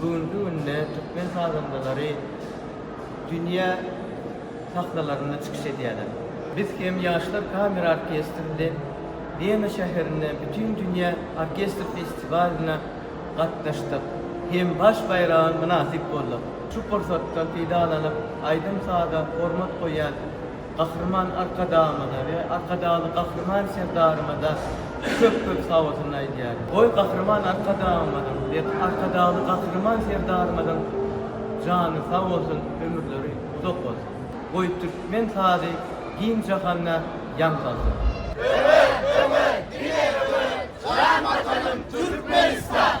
Bu günki günde türkmen sazandalary dünýä sahnalarynda çykyş edýärler. Biz hem Ýaşlar kamera orkestri bilen Wena şäherinde Bütindünýä orkestr festiwalyna gatnaşdyk hem baş baýraga mynasyp bolduk. Şu pursatdan peýdalanyp, aýdym-saza hormat goýýan Gahryman Arkadagymyza we Arkadagly Gahryman Serdarymyza köp köp sagbolsun aýdýaryn. Goý Gahryman Arkadagymyzyň we Arkadagly Gahryman Serdarymyzyň jany sag bolsun, ömürleri uzak bolsun. Goý türkmen sazy giň jahanda ýaň salsyn. Öňe, öňe, diňe öňe, jan Watanym Türkmenistan!